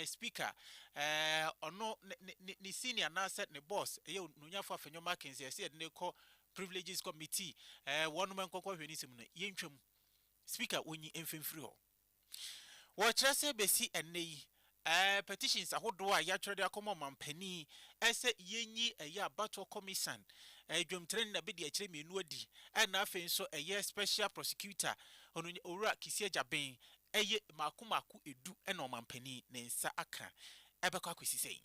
speaker, ɔno ne senior anaasɛ ne boss, ɛyɛ ononyafo afenyo Mackenzie, ɛsɛ yɛde no kɔ privileges committee, wɔnom nkɔkɔ hwɛ ne nsɛm no, yɛntwa mu. Speaker, wɔnyi mfa mfiri hɔ. Wɔkyerɛ sɛ bɛsi ɛnnɛ yi, petitions ahodoɔ a yɛatwerɛ de akɔma ɔmanpanin sɛ yɛnyi ɛyɛ abatoɔ kɔmisan, dwamtirani na bɛdi akyire mmienu adi, ɛna afei nso ɛyɛ special prosecutor, Owura Kissi Agyaben, ɛyɛ mmaako mmaako edu na ɔmampanin ne nsa aka ɛbɛkɔ akɔsi sɛn?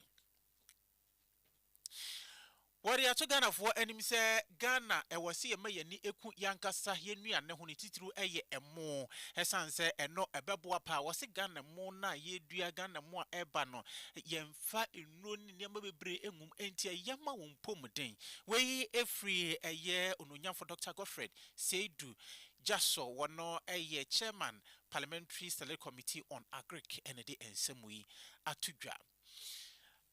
Wɔde ato Ghanafoɔ anim sɛ Ghana ɛwɔ se yɛma y'ani ɛku y'ankasa y'anuane ho ne titiriw ɛyɛ ɛmo ɛsan sɛ ɛno ɛbɛboa paa. Wɔse Ghana ɛmo no a yɛredua, Ghana ɛmo a ɛreba no yɛnfa nnuro ne nneɛma bebree ɛngum ɛnti ɛya ma wɔn mpɔmuden. Wei ɛfiri ɛyɛ Onuonyamfo Doctor Godfred Seidu Gyasɔ wɔno yɛ Chairman Parliamentary Select Committee on Agric na ɛde nsɛm yi ato dwa.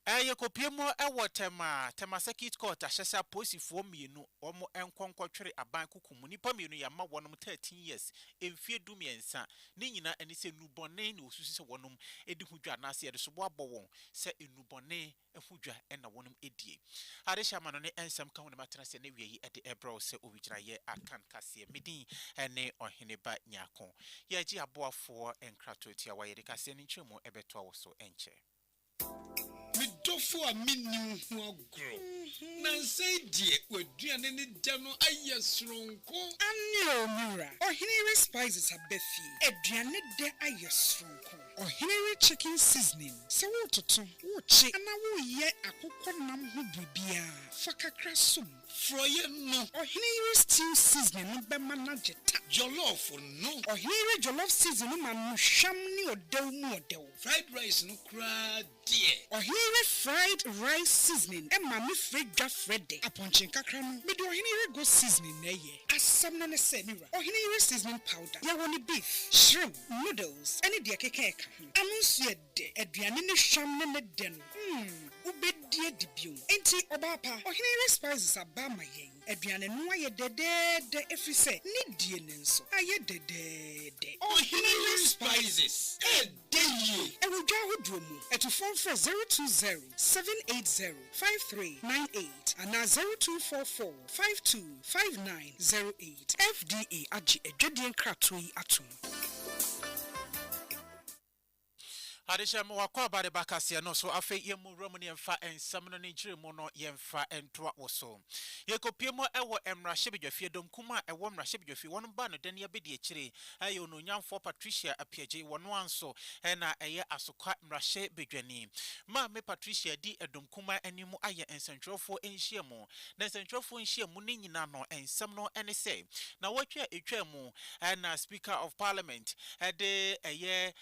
Yɛkɔpue mu wɔ Tema, Tema Circuit Court ahyɛsɛ apolisifoɔ mmienu wɔn nkɔ nkɔtwere aban kɔkum nnipa mmienu yɛama wɔnom 13 years mfeɛ du mmiɛnsa ne nyina ɛne sɛ nnubɔne na wɔsusu sɛ wɔnom de ho dwa anaasɛ yɛde soboɔ abɔ wɔn sɛ nnubɔne ho dwa na wɔnom die. Ade hyɛ amano ne nsɛm ka ho na matena ase na wia yi de rebrɛ wo sɛ owigyinaeɛ akan kaseɛ. Me din ne Ɔhene Ba Nyarko. Yɛregye aboafoɔ nkratoɔ tiawa, yɛde kaseɛ no nkyerɛmu bɛtoa wo so nkyɛ. Me dɔfo a menni wo ho agorɔ. Nansa yi deɛ w'aduane ne dɛ no ayɛ soronko. Aane o me wura. Ɔhene Yere Spices aba fie. Aduane dɛ ayɛ soronko. Ɔhenere chicken seasoning, sɛ woretoto, worekye, anaa woreyɛ akokɔ nam ho biribiara, fa kakra som. Forɔeɛ no. Ɔheneyere stew seasoning no bɛma no agye ta. Jollof no. Ɔheneyere jollof seasoning no ma no hwam ne ɔdɛw mu ɔdɛw. Fried rice no koraa deɛ. Ɔhenyere fried rice seasoning ma me frɛ dwa frɛ de apɔnkye nkakra no me de ɔhenyere goat seasoning na ɛyɛ. Asɛm no ne sɛ me wura ɔhenyere seasoning powder yɛ wɔ ne beef, shrimp, noodles ne deɛ ɛkeka ɛka ho. Ano nso yɛ dɛ, aduane ne hwam ne ne dɛ no mm wobɛdi adi bio. Enti ɔbaa pa, ɔhenyere spices aba ama yɛn. Aduane no ayɛ dɛdɛɛdɛ ɛfiri sɛ ne die no nso ayɛ dɛdɛɛdɛ. Ɔhenyere spices Da yie wɔ dwa ahodoɔ mu. Atufoɔ mfrɛ zero two zero seven eight zero five three nine eight anaa zero two four four five two five nine zero eight. FDA agye adwadie nkratoɔ yi atom. Adehyɛm, W'akwaaba de ba kaseɛ no so. Afei yɛmmɔ nwura mu na yɛmfa nsɛm no ne nkyerɛmu no yɛmfa ntoa wo so. Yɛkɔpue mu wɔ mmarahyɛbadwafie, Donkum a ɛwɔ mmarahyɛbadwafie. Wɔn baanodani abadiakyire yɛ Onuonyamfoɔ Patricia Apiagye, wɔn ara nso na ɛyɛ Asokwa mmarahyɛbadwani. Maame Patricia di Ɛdom Kumaa anim ayɛ nsɛntwerɛfoɔ nhyiamu. Na nsɛntwerɛfoɔ nhyiamu no nyinaa no nsɛm no ne sɛ, Nnawɔtwe a ɛtwaa mu na Speaker of Parliament de ɛyɛ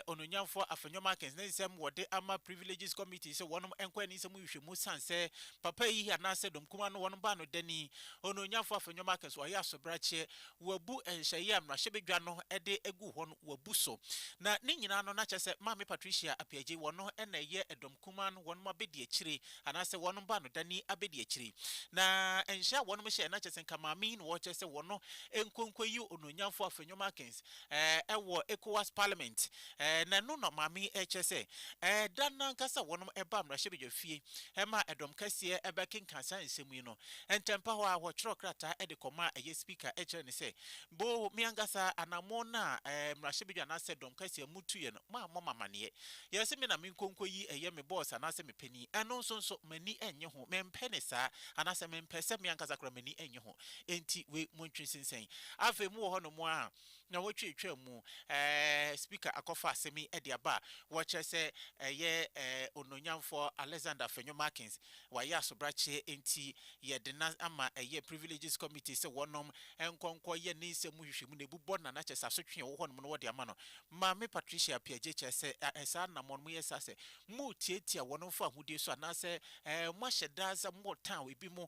Onuonyamfoɔ Afenyo Markins ne nsɛm wɔde ama Privileges Committee sɛ wɔn nkɔ ani nsɛm nhwehwɛmu sane sɛ papa yi anaasɛ Ɛdom Kumaa no wɔn baa no dani. Onuonyamfoɔ Afenyo Markins ɔyɛ asobrakyeɛ wɔabu nhyehyɛe a mmarahyɛbadwa no de agu hɔ no, wɔabu so. Na ne nyinaa no, na kyerɛ sɛ Maame Patricia Appiagyei, wɔn no na ɛyɛ dɔm kumaa no wɔn abadiakyire, anaasɛ wɔn baanodani abadiakyire. Na nhyɛ a wɔn hyɛɛ, na kyerɛ sɛ nka Maame yi na wɔkyerɛ sɛ wɔn no nkɔ nkɔyi Onuonyamfoɔ Afenyo Markins wɔ Ecowas Parliament. Ɛɛ, na ɛno na Ɔmaame yi rekyerɛ sɛ, ɛɛ, da no ankasa wɔnom baa mmarahyɛbadwafie ma ɛdɔm kɛseɛ bɛkenkan saa nsɛm yi no. Ntɛmpa hɔ ara, wɔtwerɛɛ krataa de kɔmaa ɛyɛ Spika kyerɛɛ no sɛ, Boo, me ankasa, anammɔn no a, ɛɛ, mmarahyɛbadwa anaasɛ dɔm kɛseɛ motuiɛ no, mammɔ mo amanneɛ. Yɛ sɛ me na menkɔ nkɔyi ɛyɛ me bɔɔs anaasɛ me panin. Ɛno nso nso, m'ani nnye ho. Mempɛ ne saa, anaasɛ mempɛ sɛ me ankasa koraa m'ani nnye ho. Enti wei, montwe nsensɛn. Afei mowɔ hɔnom ara a, na wɔtwatwaa mu, ɛɛ, Speaker akɔfa asɛm yi de aba a wɔkyerɛ sɛ ɛyɛ, ɛɛ, Onuonyamfoɔ Alexander Afenyo-Markins wayɛ asobrakyeɛ nti yɛde no ama ɛyɛ Privileges Committee sɛ wɔnom nkɔ nkɔ yɛ ne nsɛm mu nhwehwɛmu na ɛbu bɔ no ana kyerɛ sɛ asotwe a ɛwɔ hɔ nom no wɔde ama no. Maame Patricia Appiagyei kyerɛ sɛ ɛɛ, saa na mo nom yɛ saa sɛ motiatia wɔnom fa ahodie so anaasɛ, ɛɛ, moahyɛ da sɛ motan ebi mo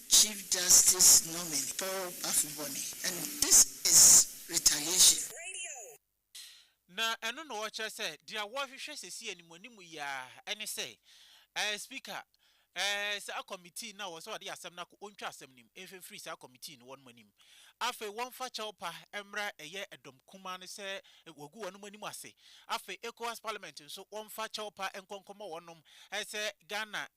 Chief Justice Nominee Paul Afuboni and this is retaliation. Na ɛno na ɔkyerɛ sɛ deɛ wɔrehwehwɛ sɛsi animuanimu yi ara ɛne sɛ ɛɛ Speaker ɛɛ saa committee no a ɔwɔ sɛ ɔde asɛm no akɔ ɔntwa asɛm no mu ɛnhwɛ mfiri saa committee no wɔnom anim. Afei wɔmfa kyɛwpa mmra ɛyɛ dɔm kumaa no sɛ wɔagu wɔnom anim ase. Afei Ecowas Parliament nso wɔmfa kyɛwpa nkɔ nkɔmɔ wɔnom sɛ Ghana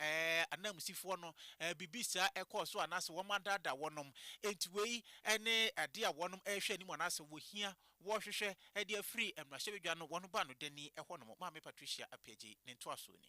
ananmusifoɔ no biribi saa ɛkɔɔ so anaasɛ wɔn adaadaa wɔnom. Enti wei ne adeɛ a wɔnom ɛrehwɛ anim anaasɛ wɔhia wɔrehwehwɛ de afiri mmarahyɛbadwa no wɔn baanodani hɔnom. Maame Patricia Appiagyei ne ntoasoɔ ni.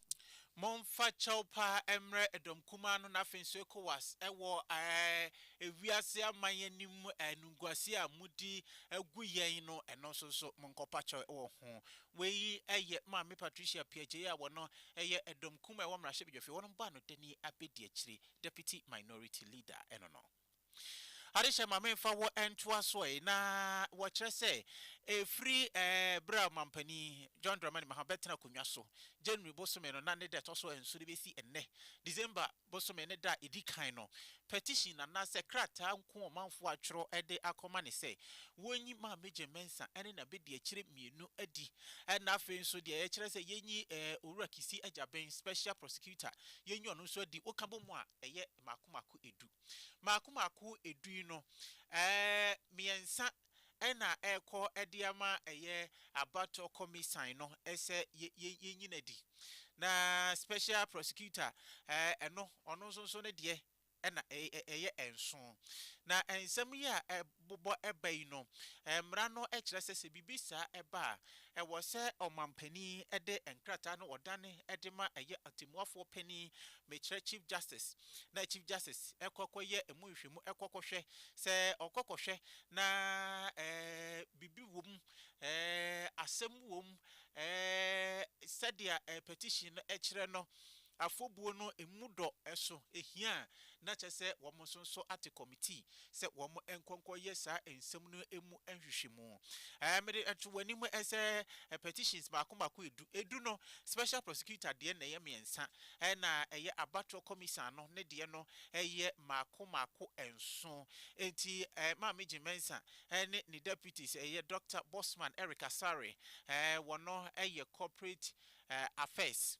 Momfa kyɛw pa mmrɛ dɔm kumaa no na afei nso Ecowas wɔ ɛɛ wiase aman anim animguaseɛ a modi gu yɛn no ɛno nso nso monkɔpa kyɛw wɔ ho. Wei yɛ Maame Patricia Piagyei a wɔno yɛ dɔm kumaa a ɛwɔ mmarahyɛbadwafie wɔnom bɔ anodani abɛdi akyire, Deputy Minority Leader ɛno no. Adehyɛ ma memfa wo ntoa so ɛ, na wɔkyerɛ sɛ ɛfiri berɛ a Ɔmampanin John Dramani Mahama bɛtena akonnwa so January bosome no na ne da ɛtɔ so nson no bɛsi ɛnnɛ December bosome ne da a ɛdi kan no, petition anaasɛ krataa nko ɔmanfoɔ atwerɛ de akɔma no sɛ wɔnyi Maame Jane Mensah ne n'abadiakyire mmienu adi na afei nso deɛ ɛkyerɛ sɛ yɛnyi Owura Kissi Agyabeng, Special Prosecutor, yɛnyi ɔno nso adi. Wokabɔ mu a, ɛyɛ. mmaako mmaako edu. Mmaako mmaako edu yi no, mmiɛnsa na ɛrekɔ de ama ɛyɛ abatoɔ kɔmisan no sɛ yɛnyi no adi. Na special prosecutor ɛno, ɔno nso ne deɛ na ɛyɛ nson. Na nsɛm yi a bobɔ ba yi no, mmara no kyerɛ sɛ sɛ biribi saa ba a, ɛwɔ sɛ ɔmanpanin de nkrataa no ɔdane de ma ɛyɛ Atemmuafoɔ Panin, mekyerɛ Chief Justice, na Chief Justice kɔ kɔyɛ ɛmu nhwɛmu kɔ kɔhwɛ. Sɛ ɔkɔ kɔhwɛ na biribi wɔ mu, asɛm wɔ mu, sɛdeɛ petition no kyerɛ no, Afɔbuo no mu dɔ so hia a na kyerɛ sɛ wɔn nso nso ate kɔmitii sɛ wɔn nkɔ nkɔ yɛ saa nsɛm no mu nhwehwɛmu. Ɛɛ mede to w'anim sɛ petitions mako mako edu, edu no special prosecutor deɛ na ɛyɛ mmiɛnsa ɛna ɛyɛ abatoɔ kɔmisan no ne deɛ no yɛ mako mako nson. Enti ɛɛ Maame Jean Mensah ɛne ne deputies ɛyɛ Doctor Bossman Eric Asare ɛɛ wɔn yɛ corporate ɛɛ affairs.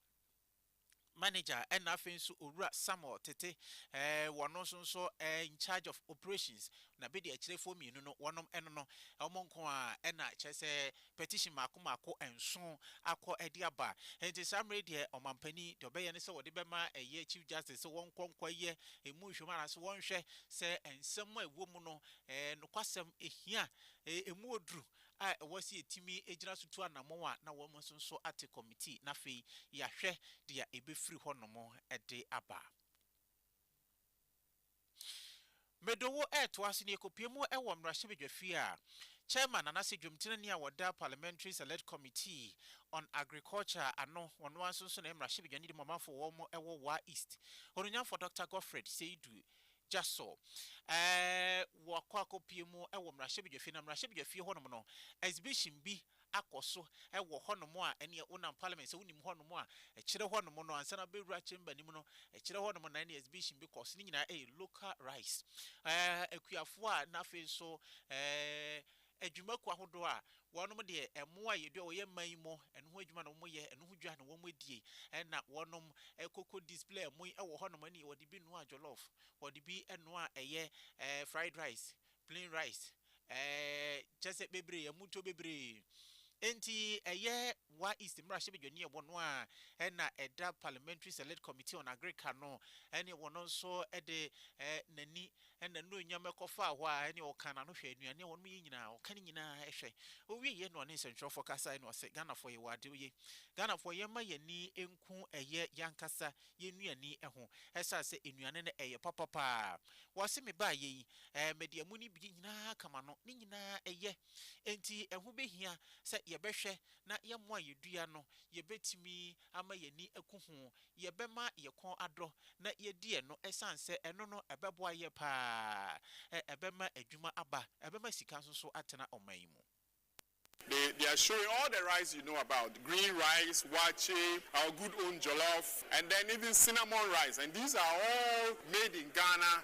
manager ɛna afei nso owura Samuel Tete ɛɛ wɔno nso nso ɛɛ in charge of operations na bedi akyerɛfoɔ mmienu no wɔnom ɛno no wɔn nko ara ɛna kyerɛ sɛ petition mako mako nson akɔ ɛde aba nti saa mmerɛ yi deɛ ɔmanpanin deɛ ɔbɛyɛ ne sɛ ɔde bɛma ɛyɛ chief justice sɛ wɔn nkɔ nkɔ yɛ emu nhwɛmu anaasɛ wɔn nhwɛ sɛ nsɛm a ɛwɔ mu no ɛɛ nokwasɛm ɛhia ɛɛ emu oduru a ɛwɔ sɛ yɛtumi gyina so tu anammɔn a na wɔn nso nso ate kɔmitii na afei yɛahwɛ deɛ ɛbɛfiri hɔnom de aba. Medowo retoa so na yɛkɔpue mu wɔ mmarahyɛbadwafie a Chairman anaasɛ dwomtenani a wɔda Parliamentary Select Committee on Agriculture ano, wɔn ara nso nso na ɛyɛ mmarahyɛbadwani de ma ɔmanfoɔ wɔn wɔ Wa East, Onunyamfoɔ Doctor Godfred Seidu gya so. Ɛɛ, wɔakɔ akɔpue mu wɔ mmarahyɛbadwafie, na mmarahyɛbadwafie hɔnom no, exhibition bi akɔ so wɔ hɔnom a ɛneɛ wonam Parliament sɛ wonim hɔnom a, ɛkyerɛ hɔnom no ansa na wobɛwura Chamber no mu no, ɛkyerɛ hɔnom na ɛneɛ exhibition bi kɔ so. Ne nyinaa yɛ local rice. Ɛɛ, akuafoɔ a na afei nso ɛɛ. adwumakuo ahodoɔ a wɔnom deɛ mmoa a yɛdua wɔ yɛn man yi mu ɛno ho adwuma na wɔn yɛ, ɛno ho dwa na wɔn die, ɛna wɔnom koko display ɛmo yi wɔ hɔ nom ɛne wɔde bi noa jollof, wɔde bi noa ɛyɛ fried rice, plain rice ɛɛ kyerɛ sɛ bebree ɛmo ntuo bebree. Enti ɛyɛ Wa East mmarahyɛ badwani ɛwɔ no a ɛna ɛda Parliamentary Select Committee on Agric ano ɛne wɔn nso ɛde n'ani Ɛnna anuonyam kɔfaa hɔ ara, ɛnneɛ ɔkaa n'ano hwɛɛ nnuane a wɔnom yi nyinaa, ɔka ne nyinaa hwɛ. Ɔwieeɛ na ɔne nsɛntwerɛfoɔ kasaeɛ na ɔse, Ghanafoɔ yɛwɔ adeɛ ye. Ghanafoɔ yɛmma yɛn ani nku ɛyɛ yɛankasa yɛn nnuane ho, ɛsiane sɛ nnuane no ɛyɛ papa pa ara. Wɔse mebaeɛ yi, ɛɛ mede ɛmo no bi nyinaa ka m'ano, ne nyinaa ɛyɛ. Enti ɛho bɛhia sɛ yɛbɛhwɛ na yɛn mmoa a yɛdua no, yɛbɛtumi ama yɛn ani aku ho, yɛbɛma yɛn kɔn adɔ na yɛadi ɛno ɛsiane sɛ ɛno no ɛbɛboa yɛn pa ara, ɛbɛma adwuma aba, ɛbɛma sika nso so atena ɔman yi mu. They they are showing all the rice you know about green rice, waakye, our good own jollof and then even cinnamon rice and these are all made in Ghana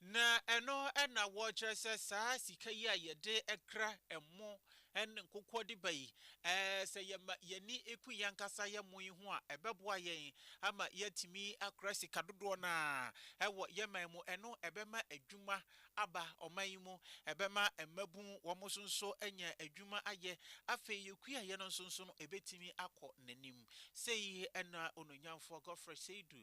Na ɛno na wɔkyerɛ sɛ saa sika yi a yɛde kra ɛmo ne nkokoɔ de ba yi, sɛ yɛma yɛn ani ku yɛn ankasa yɛn ɛmo yi ho a, ɛbɛboa yɛn ama yɛatumi akora sika dodoɔ no ara wɔ yɛn man mu. Ɛno ɛbɛma adwuma aba ɔman yi mu, ɛbɛma mmabunu wɔn nso nso anya adwuma ayɛ. Afei kuayɛ no nso nso no ɛbɛtumi akɔ n'anim. Sei na Onuonyamfoɔ Godfrey Seidu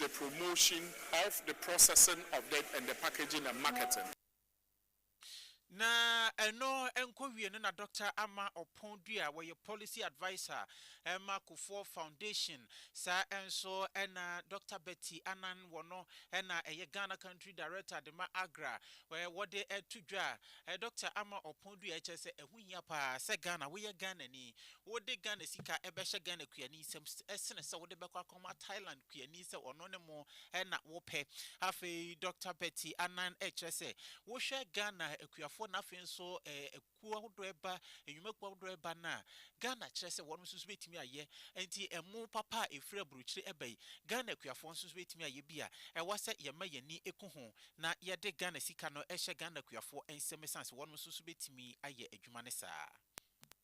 the promotion of the processing of the and the packaging and marketing. Na ɛno nkɔwie no na Dɔkta Ama Ɔpon Dua a wɔyɛ Policy Adviser ma Kufuor Foundation, saa nso na Dɔkta Betty Annan wɔ no na ɛyɛ Ghana Country Director de ma AGRA, wɔde to dwa Dɔkta Ama Ɔpon Dua kyerɛ sɛ ɛho hia pa ara sɛ Ghana, woyɛ Ghanani, Wode Ghana sika bɛhyɛ Ghana kuani nsam sene sɛ wode bɛkɔ akɔma Thailand kuani sɛ ɔno ne mo na wopɛ. Afei Dɔkta Betty Annan kyerɛ sɛ wohwɛ Ghana akuafoɔ na afei nso akuo ahodoɔ ɛba, nnwumakuo ahodoɔ ɛba no a, Ghana kyerɛ sɛ wɔnom nso bɛtumi ayɛ. Nti ɛmo papa a ɛfiri aburokyire ɛba yi, Ghana akuafoɔ nso bɛtumi ayɛ bi a, ɛwɔ sɛ yɛma yɛn ani ku ho na yɛde Ghana sika no hyɛ Ghana akuafoɔ nsam ɛsiane sɛ wɔnom nso bɛtumi ayɛ adwuma no saa.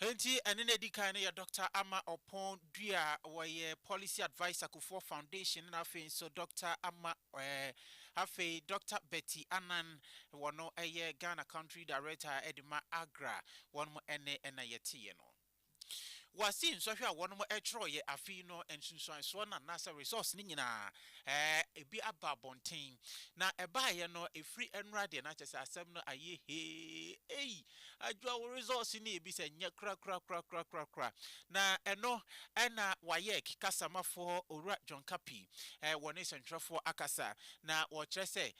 Enti ɛne no adi kan no yɛ Dɔkta Ama Ɔpon Dua a ɔyɛ Policy Adviser Kufuor Foundation na afei nso Dɔkta Ama eh, afei Dɔkta Betty Annan, wɔn yɛ Ghana Country Director de ma AGRA, wɔn ne na yɛteeɛ no. Wɔasi nsɔhwɛ a wɔn twerɛeɛ afei no nsunsuansoɔ no anaasɛ results no nyinaa, eh, ebi aba abɔnten. Na ɛbaeɛ no, ɛfiri nnora deɛ na kyerɛ sɛ asɛm no ayɛ hee, ei, adwira wo results no ebi sɛ nyɛ korakorakorakorakorakora. Na ɛno na WAEC kasamafoɔ Owura John Kapi wɔ ne sɛntwerɛfoɔ akasa na ɔkyerɛ sɛ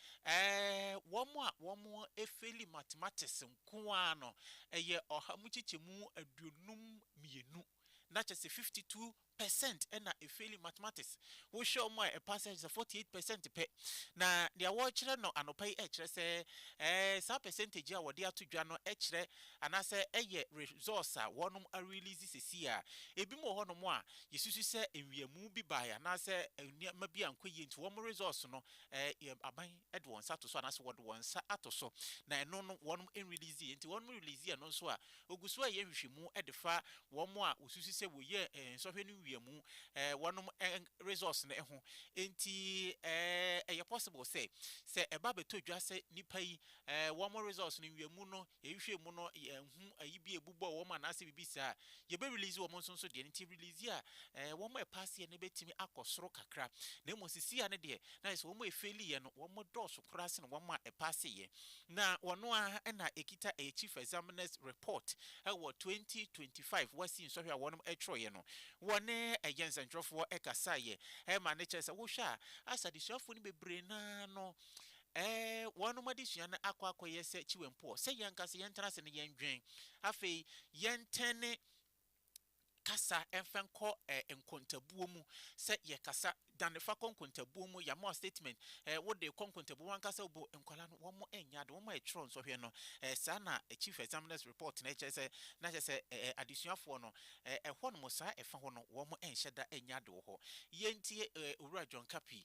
wɔn a wɔfeeli mathematics nko ara no yɛ ɔha mu kyekyɛmu aduonum mmienu na kyerɛ sɛ fifty two percent na efeli mathematics. Wo hwɛ wɔn a ɛpaase a kyerɛ sɛ forty eight percent pɛ. Na deɛ wɔrekyerɛ no anɔpa yi ɛkyerɛ sɛ ɛɛ saa percentage a wɔde ato dwa no ɛkyerɛ anaasɛ ɛyɛ results a wɔnom arelease sesei a. Ebi mo wɔ hɔ nom a yɛsusu sɛ nwiamu bi baeɛ anaasɛ nneɛma bi ankɔ yie nti wɔn results no ɛɛ yɛ aban de wɔn nsa to so anaasɛ wɔde wɔn nsa ato so na ɛno no wɔnom nrelease yɛ nti wɔnom release yɛ no nso a ɔgu so reyɛ nhwehwɛmu de fa wɔnom a wɔsusu sɛ wɔyɛɛ nsɔhwɛ no wia mu wɔnom results no ho nti ɛyɛ possible sɛ sɛ ɛba bɛtɔ dwa sɛ nnipa yi wɔnom results no wia mu no Yɛhwehwɛɛ mu no yɛanhu ayi bi a ɛbobɔɔ wɔn anaasɛ biribi saa. Yɛbɛ release wɔn nso nso deɛ no nti release a ɛɛ wɔn a ɛpaaseɛ no bɛtumi akɔ soro kakra. Na mmom sesia no deɛ na ayɛ sɛ wɔn a ɛfeeliiɛ no wɔn dɔɔso koraa sene wɔn a ɛpaaseeɛ. Na wɔno ara na ɛkita ɛyɛ Chief Examiners Report wɔ 2025 WASSCE nsɔhwɛ a wɔnom twerɛeɛ no. Wɔne ɛyɛ nsɛntwerɛfoɔ kasaeɛ ma no kyerɛ sɛ wohwɛ a as adesuafoɔ no bebree no ara no Ɛɛ, wɔnom adesua no akɔ akɔyɛ sɛ kyiwɛmpoɔ, sɛ yɛn ankasa yɛntena ase na yɛndwen. Afei, yɛntɛn ne kasa mfa nkɔ ɛɛ nkontabuo mu, sɛ yɛkasa, dane fa kɔ nkontabuo mu, yɛama wo statement, ɛɛ wode kɔ nkontabuo mu, w'ankasa wobo nkwadaa no, wɔn nyɛ ade, wɔn ɛtwerɛ nsɔhwɛ no, ɛɛ saa na Chief Examiner's Report no ɛkyerɛ sɛ, na kyerɛ sɛ ɛɛ adesuafoɔ no, ɛɛ ɛhɔ nom saa ɛfa hɔ no wɔn nhyɛ da nyɛ ade wɔ hɔ. Yɛntie ɛɛ Owura John Kapi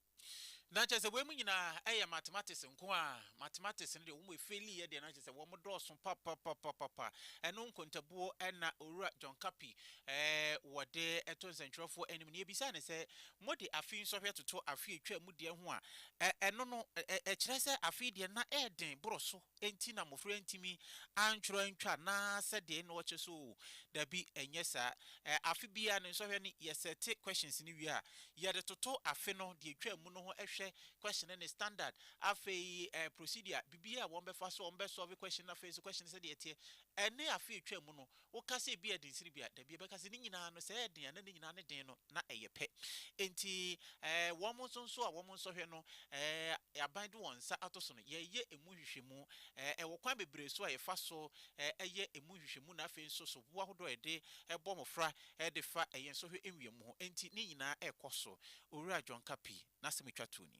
Na kyerɛ sɛ weinom nyinaa yɛ mathematics nko ara. Mathematics no deɛ wɔn efeeliiɛ deɛ na kyerɛ sɛ wɔn dɔɔso papapapapa. Ɛno nkontabuo na Owura John Kapi wɔde to nsɛntwerɛfoɔ anim. Na yɛbisaa no sɛ, mode afe nsɔhwɛ toto afe a ɛtwaam deɛ ho a, ɛno no ɛkyerɛ sɛ afe deɛ na ɛyɛ den boro so Enti na mmofra ntumi antwerɛ antwa anaasɛ deɛn na wɔkyɛ so oo? Dabi, ɛnyɛ saa. Ɛ, afe biara no nsɔhwɛ no, yɛ sɛte questions no wie a, yɛde toto afe no deɛ ɛtwaa mu no ho hwɛ, question no ne standard, afei ɛ, procedure, biribiara a wɔbɛfa so a wɔbɛsɔlve question no, afei nso question no sɛdeɛ ɛteɛ, ɛne afe a ɛtwaa mu no. Woka sɛ ebia ɛden sene bi a, dabi, ɛbɛka sɛ ne nyinaa no, sɛ ɛyɛ den a, na ne nyinaa ne den no, na ɛyɛ pɛ. Enti ɛɛ wɔn nso nso a wɔn nsɔhwɛ no, ɛɛ aban de wɔn nsa ato so no, yɛyɛ emu nhwehwɛmu. Ɛɛ ɛwɔ kwan bebree so a yɛfa so ɛɛ yɛ emu nhwehwɛmu na afei nso soboɔ ahodoɔ a yɛde bɔ mmɔfra de fa ɛɛ yɛn nsɔhwɛ nwiamu ho. Enti ne nyinaa rekɔ so. Owura John Kapi n'asɛm a otwa toɔ ni.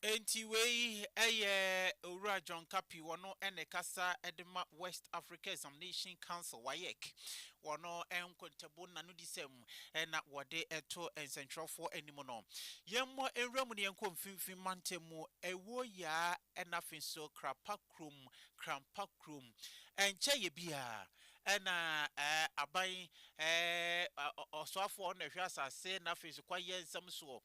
Enti wei yɛ Owura John Kapi, wɔno na ɛkasa de ma West Africa Examination Council, WAEC, wɔno nkontabuo no n'anodisɛm na wɔde to nsɛntwerɛfoɔ anim no. Yɛmmɔ nwura mu na yɛnkɔ mfimfini mantam mu, Awuo Yaa na afei nso Krapa kurom, Krampa kurom. Ɛnkyɛ yɛ biara, Ɛna aban ɔsoafoɔ na ɛhwɛ asase na afei nso kwaeɛ nsɛm soɔ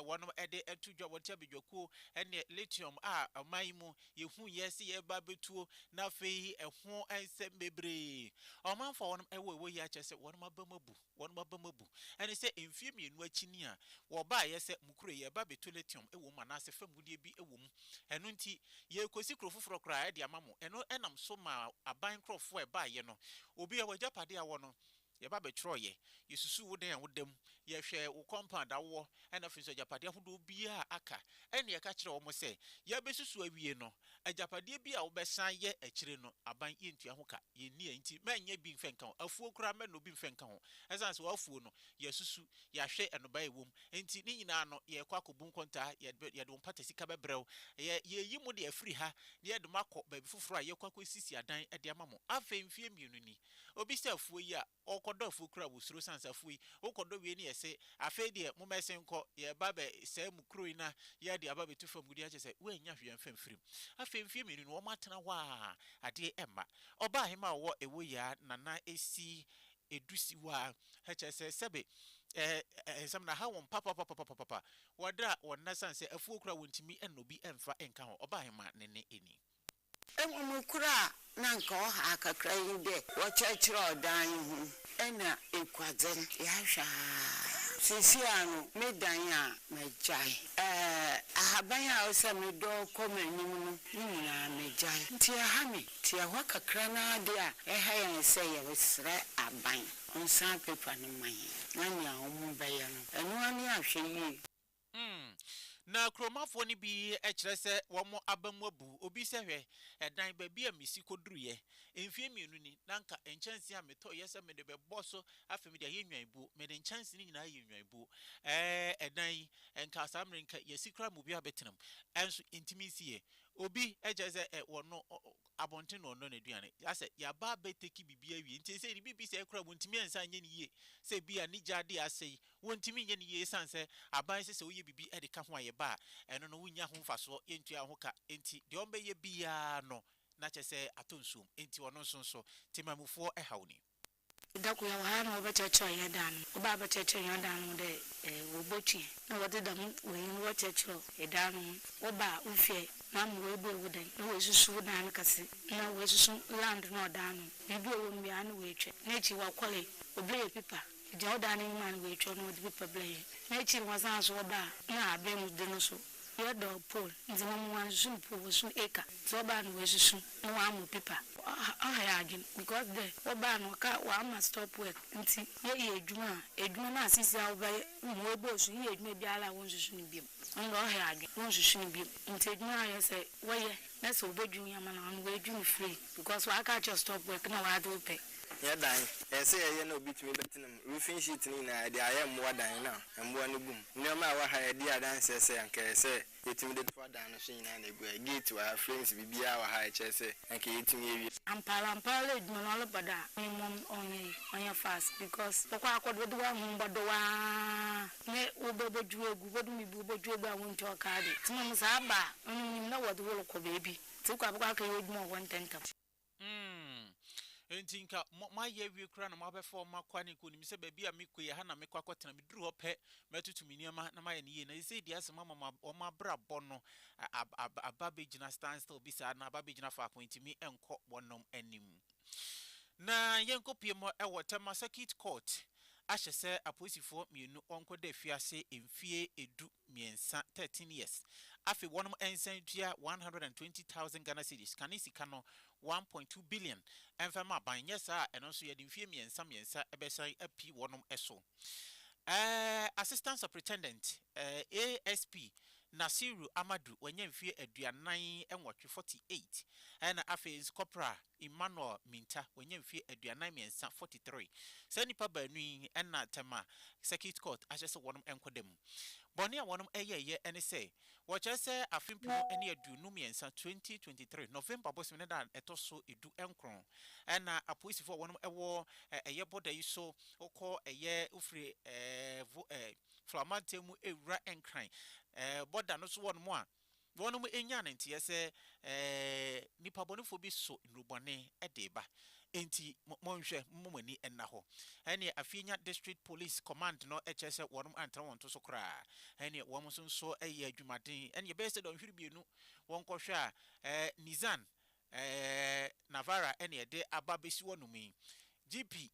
wɔnom de to dwa wɔn ti abadwakuo ne lithium a ɔman yi mu yɛhu yɛ sɛ yɛba bɛtuo na afei ɛho nsɛm bebree ɔmanfoɔ wɔnom ɛwɔ ɛwɔ yi akyɛ sɛ wɔnom aba mu abu. wɔn abam abu. Ɛne sɛ, mfeɛ mmienu akyi ni a wɔbaeɛ sɛ Mukure, yɛreba abɛtu lithium wɔ mu anaasɛ fam gudeɛ bi wɔ mu. Ɛno nti, yɛrekɔsi kuro foforɔ koraa de ama mo. Ɛno nam so maa aban nkorɔfoɔ a ɛbaeɛ no, obiara w'agyapadeɛ a ɔwɔ no, yɛba bɛtwerɛeɛ, yɛsusuu wo dan a woda mu, yɛhwɛɛ wo compound a wowɔ, ɛna afei nso agyapadeɛ ahodoɔ biara a aka. Ɛnna yɛka kyerɛɛ wɔn sɛ, yɛabɛsusu awie no, Agyapadeɛ bi a wobɛsan yɛ akyire no, aban yɛntua ho ka. Yɛnni a enti mɛnyɛ bi mfɛ nka ho. Afuo koraa mɛnnɔ bi mfɛ nka ho. Ɛsiane sɛ w'afuo no, yɛasusu, yɛahwɛ nnɔbaeɛ a ɛwɔ mu enti ne nyinaa no, yɛrekɔ akɔbu nkontaa, yɛde yɛde wo mpata sika bɛbrɛ wo. Yɛ yɛreyi mo deɛ afiri ha na yɛde mo akɔ baabi foforɔ a yɛrekɔ akɔsisi adan de ama mo. Afei mfeɛ mmienu ni, obi sɛ afuo yi a, Wokɔ dɔ afuo kura wosuro sansa afuo yi wokɔ dɔ wiei ne yɛse afei deɛ momma ɛsen nkɔ yɛreba abɛ sɛe mo kuro yi na yɛde aba abɛtu fam gudeɛ kyerɛ sɛ woannya hwee amfa amfirim afei mfeɛ mmienu no wɔn atena hɔ a adeɛ ɛmma ɔbaa hema a ɔwɔ ɛwɔ yi a nana ɛsi ɛdusi hɔ a ɛkyerɛ sɛ sɛbe ɛɛ nsɛm no aha wɔn papapapapapa wɔdra wɔn nna sane sɛ afuo kura wɔntumi nna obi mfa nka ho ɔbaa hema ne nne ɛni. Mbom nokwar a na anka ɔha kakra nye dɛ wɔkyerɛkyerɛ ɔdan yi ho na ekuadze no yɛahwɛ a seseiara no me dan a magyae, ahaban a ɔsɛ medɔw kɔ m'enyim no ne nyina megyae ntsi ɛha me ntsi ɛhɔ kakra no ara de a ɛha hɛn sɛ yɛreserɛ aban ɔnsan paper no mma hɛn na nea wɔbɛyɛ no ɔno ara nye ahwɛyie. Hmm. Na kuromafoɔ no bi kyerɛ sɛ wɔn aba mu abu. Obi sɛ, Hwɛ, ɛdan baabi a mesi kɔduruiɛ mfeɛ mmienu ni, na anka nkyɛnsee a metɔeɛ sɛ mede bɛbɔ so afei mede ayɛ nnwanbuo, mede nkyɛnsee no nyinaa yɛ nnwanbuo. Ɛɛ, ɛdan yi, anka saa mmerɛ yi anka yɛasi koraa ma obiara abɛtena mu, nanso yɛntumi nsiiɛ. Obi kyerɛ sɛ, ɛ, wɔno abɔnten na wɔnnɔ n'aduane. Asɛ, yɛaba abɛteki biribiara awie, nti seesei deɛ biribi sɛe koraa a, wɔntumi ansan nyɛ no yie. Sɛ ebia ne gya adeɛ asɛe, Wontumi nyɛ no yie esiane sɛ aban sɛ sɛ woyɛ biribi de ka ho a yɛba a, ɛno no wonnya ho mfasoɔ, yɛntua wo ho ka, enti deɛ wɔbɛyɛ biara no na kyerɛ sɛ atɔ nsuom, enti ɔno nso nso temanmufoɔ haw ni. Da kor yɛwɔ ha a na wɔbɛkyerɛkyerɛ hɛn dan no ho. Wɔbaa bɛkyerɛkyerɛɛ hɛn dan no ho dɛ eh, wɔbotue. Nna wɔdze dɛm wei no wɔkyerɛkyerɛw dan no ho. Wɔbaa wohwɛe na ama woebue wo dan, na woesusu wo dan no kɛse, na woesusu land no a ɔda ano no, biribi a ɔwɔ mu biara na woetwa. Na ekyir wɔkɔree, wɔbɛyɛɛ pipa. Egya ɔdaa n'enyi maa no wɔ etwa mu na ɔdze pepa bla yɛe. N'ekyir no wɔsaan so wɔbaa na aber mu de no so yɛdɔɔ Paul ntsi hom wɔannsusu no Paul wɔsusuu no Eka ntsi ɔbaa no oesusu na ɔammɔ pepa. Ɔha yɛn adwen because dɛ wɔbaa no ɔkaa wɔama stop work ntsi yɛyɛ edwuma a edwuma no asisi a wɔbɛyɛ hom woeboosu yɛyɛ edwuma biara a wonnsusu no bio ndɛ ɔha yɛn adwen wonnsusu no bio ntsi edwuma a yɛsɛ wɔyɛ na sɛ wobodwuun yɛn ama no ɔno oedwuun free because wɔaka akyerɛ stop work na wɔadze wo pɛ Yɛn dan, ɛsɛ sɛ yɛyɛ na obi tumi bɛtena mu. Roofing sheet no nyinaa, yɛde ayɛ mmoa dan na mmoa no gu mu. Nneɛma a ɛwɔ ha a edi adanse sɛ anka ɛsɛ sɛ yetumi de toa dan no so nyinaa na egu ha. Gate wɔ ha, frames, biribiara wɔ ha a ɛkyerɛ sɛ anka yetumi awie. Ampa ara, ampa ara edwuma no ɔreba do a, me mom ɔnyɛ yi, ɔnyɛ fast because bɔkɔ akɔ do wɔdze w'ahom bɔdɔ aah nye wo bɛ bɔdwuw egu, bɔdom ibu wo bɔdwuw egu a wonntɔ ɔkaa de, ntsi mom dza aba a, ɔno minyim na wɔdze wo rokɔ beebi, ntsi ekɔ a bɔkɔ akɛyɛ edwuma wɔ hɔ ntsɛntsɛm. Umm enti nka mo moayɛ awie koraa na moabɛfa wɔn akɔ ne kɔnim sɛ baabi a mekɔ yi ɛha na mekɔ akɔtena meduru hɔ pɛ mɛtoto me nneɛma na mayɛ no yie na seesei deɛ asɛm ama ma wɔn abrabɔ no ab ab aba abɛgyina stand still bi saa na aba abɛgyina faako ɛntumi nkɔ wɔnom anim na yɛnkɔpue mɔ ɛwɔ Tema circuit court ahyɛ sɛ apolisifoɔ mmienu wɔnkɔda afiase mfie ɛdu mmiɛnsa, thirteen years, afei wɔnom nsan ntua one hundred and twenty thousand Ghana cedis, kane sika no, one point two billion, mfa ma aban, nyɛ saa a ɛno nso yɛde mfeɛ mmiɛnsa mmiɛnsa bɛsan api wɔnom so. Ɛɛ Assistant Superintendent, ɛɛ ASP, Nasiru Amadu, wanya mfeɛ aduanan nwɔtwe, forty eight, ɛna afei nso Corporal, Emmanuel Minta, wanya mfeɛ aduanan mmiɛnsa, 43. Saa nnipa baanu yi na Tema Circuit Court ahyɛ sɛ wɔnom nkɔ da mu. Bɔne a wɔnom yɛeɛ ne sɛ, wɔkyerɛ sɛ afe mpenu ne aduonu mmiɛnsa, 2023, November bosome ne da a ɛtɔ so du nkron na apolisifoɔ a wɔnom wɔ ɛyɛ bɔda yi so kɔ ɛyɛ wofiri ɛɛ Flamantam mu ɛwura Nkran ɛɛ bɔda no so hɔ nom a Wɔnom nyaa no nteɛ sɛ, Ɛɛ, nnipabɔnefoɔ bi so nnurubɔne de reba, enti mo, monhwɛ, momma mo ani nna hɔ. Ɛnneɛ afei nya District Police Command no kyerɛ sɛ wɔnom antra wɔn to so koraa. Ɛnneɛ wɔn nso nso yɛ adwumaden. Ɛnneɛ ɛbɛyɛ sɛ dɔnhwere mmienu wɔnkɔhwɛ a, ɛɛ, Nissan, ɛɛ, Navara na ɛde aba abɛsi wɔnom yi. GP,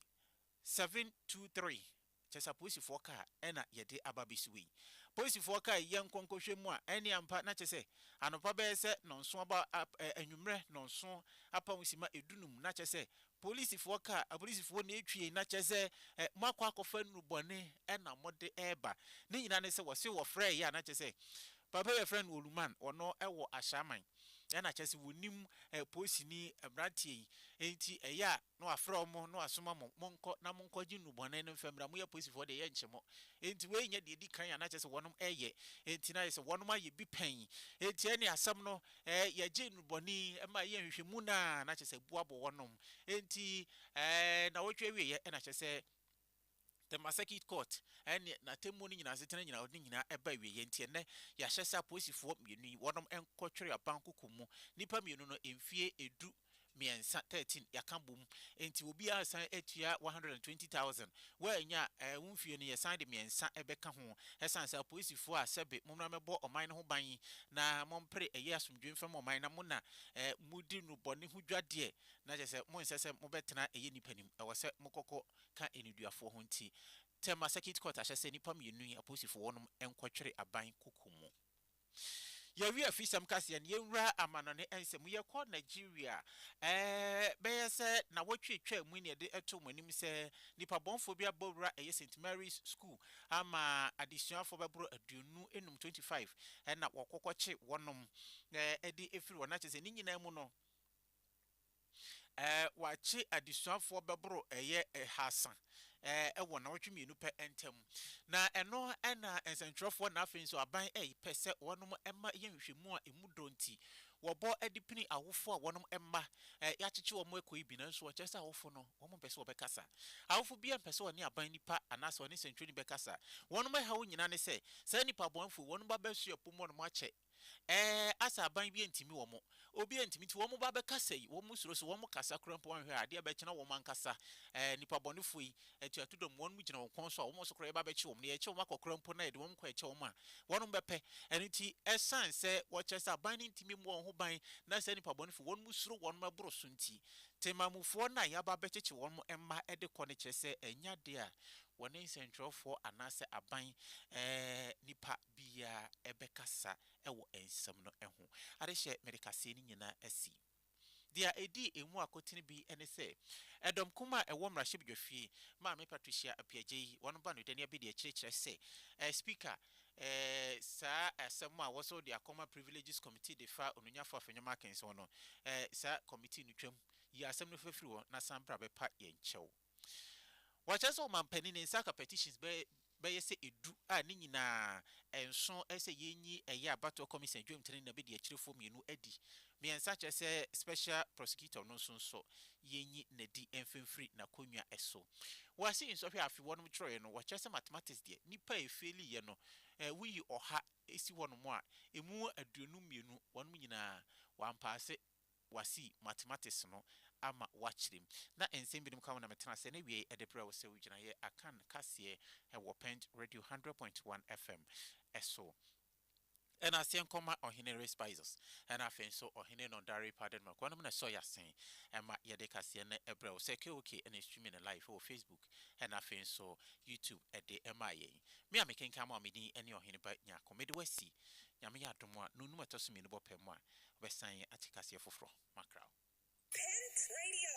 723. Kyerɛ sɛ apolisifoɔ kaa ɛna yɛde aba bɛsi hɔ yi. Polisifoɔ kae yɛn nkɔnkɔhwɛ mu a, ɛne ampa na kyerɛ sɛ anɔpa bɛyɛ sɛ nnɔnson aba ɛ anwummerɛ nnɔnson apa ho sima ɛdu num na kyerɛ sɛ polisifoɔ kaa apolisifoɔ na ɛtwi yɛn na kyerɛ sɛ ɛ moakɔ akɔfa nnuru bɔne ɛna mode ɛreba. Ne nyinaa ne sɛ wɔse wɔfrɛɛ yɛ a na kyerɛ sɛ papa bi a yɛfrɛ no Oluman ɔno ɛwɔ Ashraman ɛna kyerɛ sɛ wɔnim ɛ polisini mmranteɛ yi ɛnti ɛyɛ a na wafrɛ wɔn na wasoma mo, monkɔ na monkɔgye nnubɔne no mfa mmra, moyɛ polisifoɔ deɛ, yɛnnkye mo. Enti wei nyɛ deɛ ɛdi kan a na kyerɛ sɛ wɔnom reyɛ, enti na ayɛ sɛ wɔnom ayɛ bi pɛn. Enti ɛnneɛ asɛm no, ɛɛ, yɛgye nnubɔne yi ma ɛyɛ nhwehwɛmu no a, na kyerɛ sɛ abu abɔ wɔnom. Enti, ɛɛ, nnawɔtwe awieeɛ na kyerɛ sɛ. The Massakit Court ne n'atemmuo no nyinaa asetena nyinaa ɔde ne nyinaa ɛba awieɛ nti ɛnnɛ yɛahyɛ sɛ apolisifoɔ mmienu yi wɔnom nkɔtwere abankoko mu nnipa mmienu no mfie ɛdu mmiɛnsa, thirteen, yɛaka bom nti obiara resan atua one hundred and twenty thousand woannya a wo mfie no yɛsan de mmiɛnsa bɛka ho ɛsiane sɛ apolisifoɔ a sɛbe mommra mmɛbɔ ɔman no ho ban na mompere ɛyɛ asomdwoe mfa ma ɔman na mo na modi no bɔne ho dwadeɛ na kyerɛ sɛ monsɛ sɛ mobɛtena ɛyɛ nnipa nim ɛwɔ sɛ mokɔkɔ ka nneduafoɔ ho nti, Tema Circuit Court ahyɛ sɛ nnipa mmienu yi, apolisifoɔ, wɔnom nkɔtwere aban kuku mu. Yɛawie afisɛm kaseɛ no, yɛnwura amanɔne nsɛm. Yɛkɔ Nigeria. Ɛɛ, bɛyɛ sɛ nnawɔtwe a ɛtwaa mu yi na yɛde too mo anim sɛ nnipabɔnfoɔ bi abɔ wura ɛyɛ St. Mary's School ama adesuafoɔ bɛboro aduonu nnum, 25, ɛna wɔkɔkɔkye wɔnom de afiri hɔ. Na kyerɛ sɛ ne nyinaa mu no, Wɔakye adesuafoɔ bɛboro ɛyɛ ɛhaasa wɔ nnawɔtwe mmienu pɛ ntam. Na ɛno na nsɛntwerɛfoɔ na afei nso aban repɛ sɛ wɔnom ma yɛ nhwehwɛmu a ɛmu dɔ nti wɔbɔ de pini awofoɔ a wɔnom mma yɛakyekye wɔn ɛkɔ yi bi. Nanso ɛkyerɛ sɛ awofo no wɔn mpɛ sɛ wɔbɛkasa. Awofo biara mpɛ sɛ ɔne aban nipa anaasɛ ɔne sɛntwerɛni bɛkasa. Wɔnom ɛhaw nyinaa ne sɛ saa nnipa bɔnefoɔ yi wɔnom ba bɛsoɛ pom wɔnom akyɛ. Ɛɛ asa aban bi antimi wɔn. Obi antimi nti wɔn ba bɛkasa yi, wɔn suro so wɔn kasa koraa mpo wɔn hwɛ a adeɛ bɛkyena wɔn ankasa. Ɛɛ nipa bɔnefoɔ yi, atuato dɔm wɔn gyina wɔn kɔn so a wɔn so koraa yɛba bɛkye wɔn na yɛkye wɔn akɔ koraa mpo na yɛde wɔn kɔ ɛkyɛ wɔn a, wɔn bɛpɛ. Ɛno nti ɛsan sɛ wɔkyerɛ sɛ aban no ntimi mmɔ wɔn ho ban na saa nipa bɔnefoɔ wɔn suro wɔn ɛboro so nti. Temanmufoɔ no a yɛaba bɛkyekye wɔn mma de kɔ no kyerɛ sɛ ɛnyɛ adeɛ a wɔne nsɛntwerɛfoɔ anaasɛ aban ɛɛ nipa biaa bɛkasa wɔ nsɛm no ho. Adehyɛ mede kaseɛ no nyinaa asi. Deɛ ɛdi ɛmu akotene bi ne sɛ, ɛdɔm kumm a ɛwɔ mmarahyɛbedwafie, Maame Patricia Appiagyei, wɔn ba no Danny Abedi akyire kyerɛ sɛ, Speaker, saa asɛm a wɔsɔre de akɔma Privileges Committee de fa Onunyafo Afenwoma Akenson no, saa committee no twam, yi asɛm no fa firi hɔ na san bra bɛpa yɛn kyɛw. Wɔakyerɛ sɛ ɔmanpanin no nsa aka petitions bɛyɛ bɛyɛ sɛ edu a ne nyinaa nso sɛ yenyi ɛyɛ abatoɔ kɔmisa Dwam Tene na Bedi Akyirifoɔ mmienu adi mmiɛnsa kyerɛ sɛ special prosecutor no nso nso yenyi nadi mfa mfiri n'akonnwa so. Wɔ ase nsɔhwɛ a afe wɔnom kyerɛeɛ no wɔkyerɛ sɛ mathematics deɛ nnipa a efeeliiɛ no woyi ɔha si hɔnom a emu aduonu mmienu wɔnom nyinaa wɔampaase. wɔasi mathematics no ama wɔakyerɛ mu, na nsɛm binom ka ho na metena ase na wiei de brɛ wo sɛ wo gyinaeɛ Akan kaseɛ wɔ Pɛnj Radio hundred point one FM so. Ɛna aseɛ nkɔma Ɔhene Respizos ɛna afei nso Ɔhene Nondare Padenmark, wɔnom na ɛsɔ y'asen ma yɛde kaseɛ no brɛ wo sɛ KOK na ɛstreami no live wɔ Facebook ɛna afei nso YouTube de maa yɛn. Me a mekenkan mo a me din ne Ɔhene Ba Nyarko, mede wo asi Nyame yɛ adom a nonum a ɛtɔ so mmienu bɔ pɛ mu a Wɔbɛsan ate kaseɛ foforɔ. Makraw. Pent Radio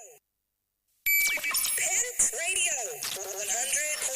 Pent Radio 100.